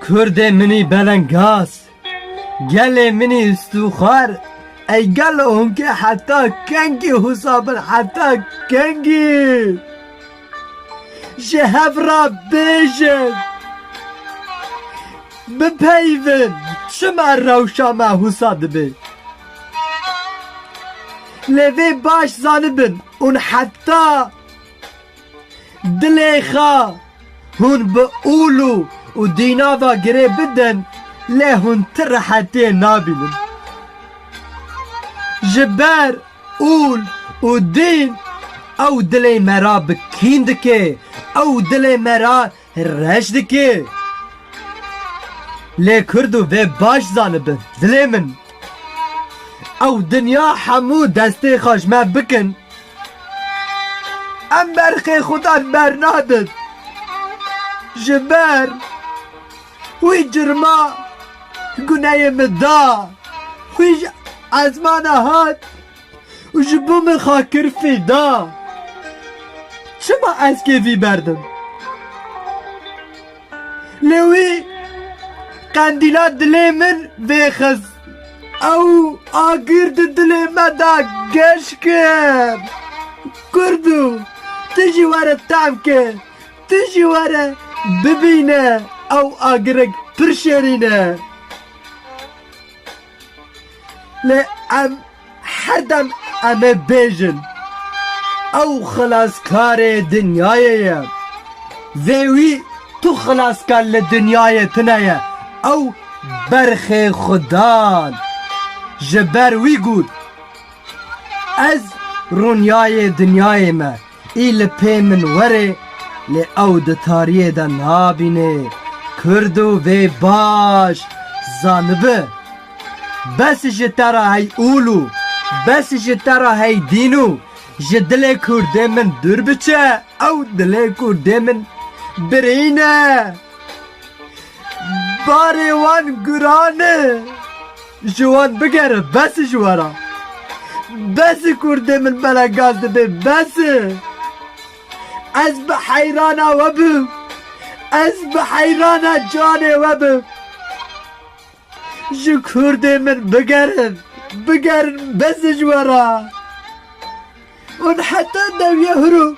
Kurdê minî belengaz, gelê minî stûxar, ey gelo hûnkê heta kengî hûsa bin heta kengî ji hev re bêjin, bipeyivin çima rewşa me hûsa dibe. Lê vê baş zanibin ûn heta. Dilê xwe hûn bi ûlû û dînava girê bidin lê hûn ti rehetiyê nabînin. Ji ber ûl û dîn ew dilê me ra bi kîn dike, ew dilê me ra Reş dike. Lê kurd û vê baş zanibin dilê min. Ew dinya hemû destê xwe ji me bikin em berxê xudan bernadin. Ji ber wî cirma guneyê min da wî ji ezmana hat û ji bo min xwe kir fîda. Çima ez kêfî berdim? Lê wî qendîla dilê min vêxist. Ew agir di dilê me de geş kir. Kurdo, tu jî were tehm kê, tu jî were bibîne ew agirek pir şêrîn e. Lê em herdem em ê bêjin ew xilaskarê dinyayê ye. Vê wî tu xilaskar li dinyayê tune ye, ew berxê xwe dan. Ji ber wî got, Ez rûniyayê dinyayê me. Î li pê min were lê ew di tariyê de nabîne kurd û vê baş zanibi bes ji te re hey ûl û bes ji te re hey dîn û ji dilê kurdê min dûr biçe ew dilê kurdê min birîne barê wan guran e. Ji wan bigere bes e ji we re. Bes e kurdê min bela gaz dibê bes e. Ez bi heyrana we bim. Ez bi heyrana canê we bim. Ji kurdê min bigerin. Bigerin bes e ji we re. Hûn heta dewiya hûr û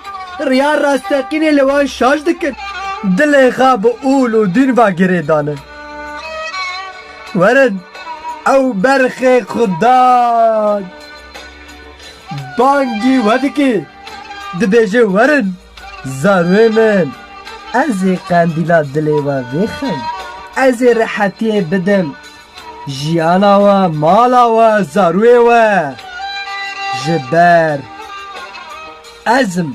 riya rasteqînê li wan şaş dikin. Dilê xwe bi ûl û dûn ve girê dane. Werin, ew berxê xwe da. Bangî we dike, dibêje werin. Zarûyê min, ez ê qendîla dilê we vêxim, ez ê rehetiyê bidim jiyana we, mala we, zarûyê we. Ji ber ez im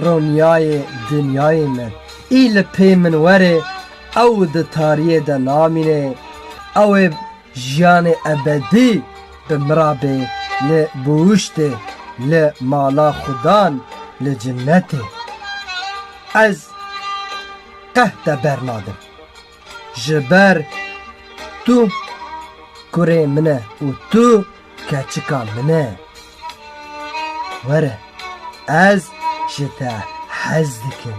ronîyayê dinyayê min. Î li pê min werê, ew di tariyê de namînê, ew ê Jiyanê ebedî bi mirabê li bûhuştê li mala xudan li cinetê. Ez qeh te bernadim. Ji ber tu kurê min e û tu keçika min e. Were ez ji te hez dikim.